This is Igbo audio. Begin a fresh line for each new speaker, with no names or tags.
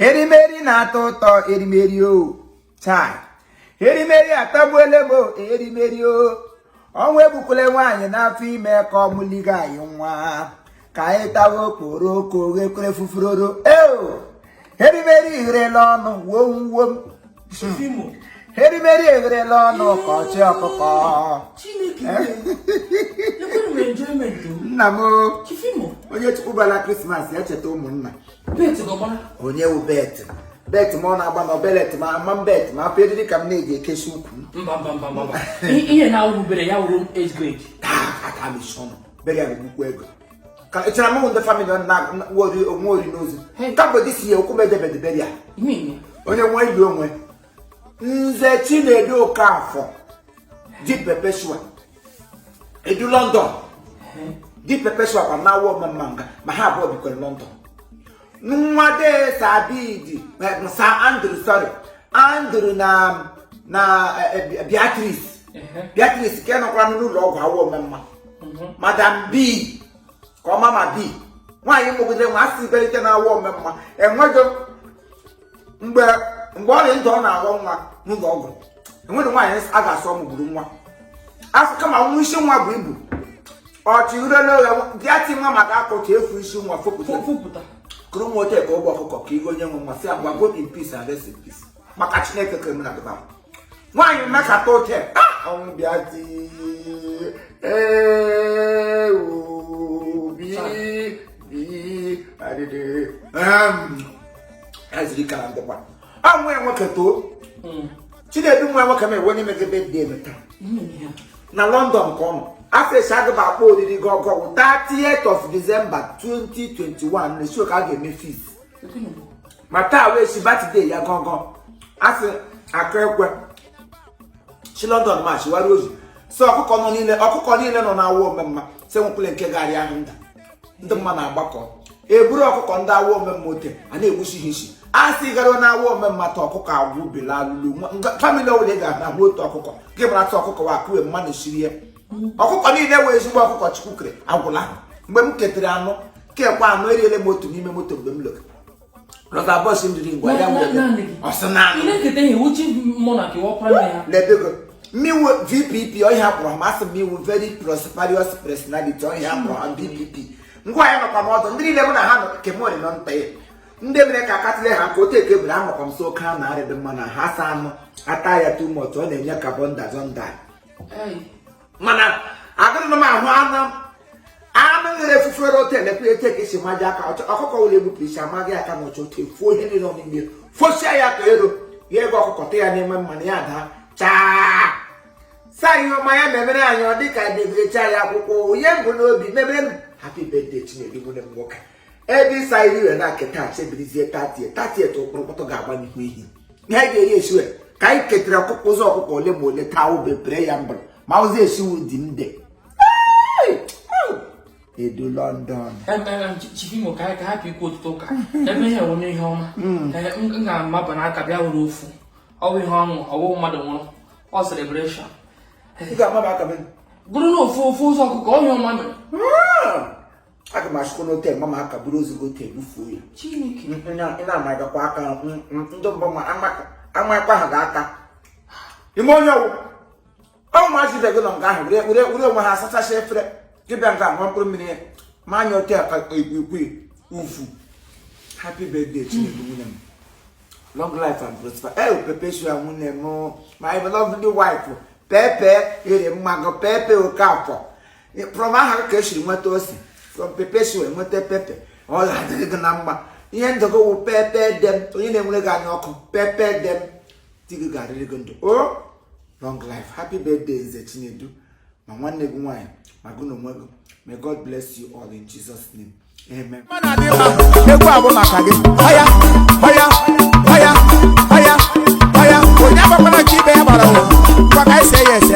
erimeri na-atọ ụtọ erimeri o chai erimeri atọgbuole m erimeri o ọnwụ egbukwele nwaanyị n'afọ ime ka ọ mụliga anyị nwa ka anyị tawa okporoko ghekwere fufuroro eo erimeri egherela ọnụ wom wom erimeri egherela ọnụ ka ọchị ọkụkọ nna m onye chukwu gbaara krismas ya cheta ụmụnna onye wu bet bet ma ọ na-agba na belt ma ama bet ma afọ eriri ka m na-eji ekesi
ukwu ihe na-awụbere ya wụrụ age grade ah, aka m
bere ya nnukwu ego ka echara mụ ndị famili na wori onwe ori n'ozu ka bụ dị si ya okwu medebedebere ya onye nwe ili onwe nze chinedu okafọ di perpetua edu london di perpetua kwa na awọ omamma nga ma ha abụọ bikwere london nwa de sa abidi sa andrew sorry andrew na na beatrice beatrice nke nọkwara n'ụlọ ọgwụ awọ omemma madam b ka ọ mama b nwaanyị mụgide nwa asị ibelite na awọ omemma enweghị mgbe mgbe ọ dị ndụ ọ na-aghọ nwa n'ụlọ ọgwụ enweghị nwaanyị a ga-asị ọ mụgburu nwa afọ kama nwa isi nwa bu ibu ọchị urele oghe bịa ti nwa maka akọchị efu isi nwa fopụta kụrụ nwa ote ka ụgbọ ọkụkọ ka igo onye nwe nwa sị ngwa go in peace and rest in peace maka chineke kere m na dịba nwaanyị mekata ote ọnwụ bịa di obi bi adịdị azụrụ ike na ndịkwa ọ nwa ya nwoke too chinedu nwa ya nwoke ma ewe onye megide dị eme taa na london ka ọ nọ afes agaba akpọ oriri gị ọ ga-awụ 30th of december 2021 na show ka a ga-eme fees ma taa wee si batide ya gọgọ a sị akụọ ekwe si london ma chiwara ozi sị ọkụkọ nọ niile ọkụkọ niile nọ na awọ omemma si nwekwule nke garị ahụ nda ndị mma na-agbakọ eburu ọkụkọ ndị awọ omemma ote a na-egbusi ha isi a sị gara na awọ omemma ta ọkụkọ agwụ bela alụlu famili ọwụla ị ga-ahụ otu ọkụkọ gị mara ta ọkụkọ wa akụwe mmanụ sirie ọkụkọ niile wee ezigbo ọkụkọ chukwu kere agwụla ha mgbe m ketere anụ kekwa anụ eriele m otu n'ime moto mgbe m lụrụ lọta bọọsụ m jiri ngwa ya nwere ọsị na lebego mmiwu vpp ọ ihe a kpọrọ ha masị m iwu very prosperous personality ọ ihe a kpọrọ ha vpp ngwa ya nọkwa m ọdụ ndị niile mụ na ha nọ kemori nọ nta ya ndị mere ka akatịle ha ka otu eke bere anọkwa m so oke a na-arịdị mma na ha saa anụ ata ya tumọtụ ọ na-enye carbon dazọ ndai mana agụrụ m ahụ anụ anụ nwere efufere otu elekwa etu ka esi maji aka ọkụkọ ụlọ egbupụ isi amaghị aka na ọchọ otu efuo ihe niile ọnụmgbe fosia ya ka ero ya eko ọkụkọ tee ya n'ime mmanụ ya daa chaa saa ihe ọma ya memere anyị ọ dị ka debere chaa ya akwụkwọ onye mbụ n'obi memere m happy birthday Chinedu nwanne m nwoke ebe ịsa iri were na keta chebirizie thirty thirty tụ kpọrọkpọtọ ga-agba n'ihu ihe anyị ga-eri esiwe ka anyị ketara ọkụkọ ụzọ ọkụkọ ole ma ole taa ube pere ya mbara ma ụzọ esiwu dị nde Edu London chief
Imo ka ka hapụ ikwu ọtụtụ ụka ebe ihe wụ n'ihe ọma m ga-amaba n'aka bịa were ofu ọ wụ ihe ọṅụ ọ wụ mmadụ nwụrụ ọ celebration bụrụ na ofu ofu ụzọ ọkụkọ ihe ọma mere
aga m achụkwa n'ote mgba ma aka bụrụ ozugbo ote bufuo ya ị na-amagakwa aka ndị mbọ ma amakwa ha ga aka ime onye ọ wụ ụmụazị bịago nọ nga ahụ were onwe ha asachasị efere gị bịa nga ahụ mkpụrụ mmiri ya ma anya ote aka ikwu ufu happy birthday Chinedu nwanne m long life and prosperity Perpetua nwunye m my lovely wife Pepe ere mmanụ Pepe Okafọ from aha ka esiri nweta ose from Perpetua enweta Pepe ọ ga-adịrị gị na mma ihe ndụ gị wụ pepper dem onye na-enwere gị anya ọkụ pepper dem di gị ga-adịrị gị ndụ o long life happy birthday nze Chinedu ma nwanne gị nwaanyị ma gị na onwe gị may God bless you all in Jesus name amen egwu abụ maka gị ọya ọya ọya ọya ọya onye agbakwana ka ibe ya gbara ụwa ma ka e se ya ese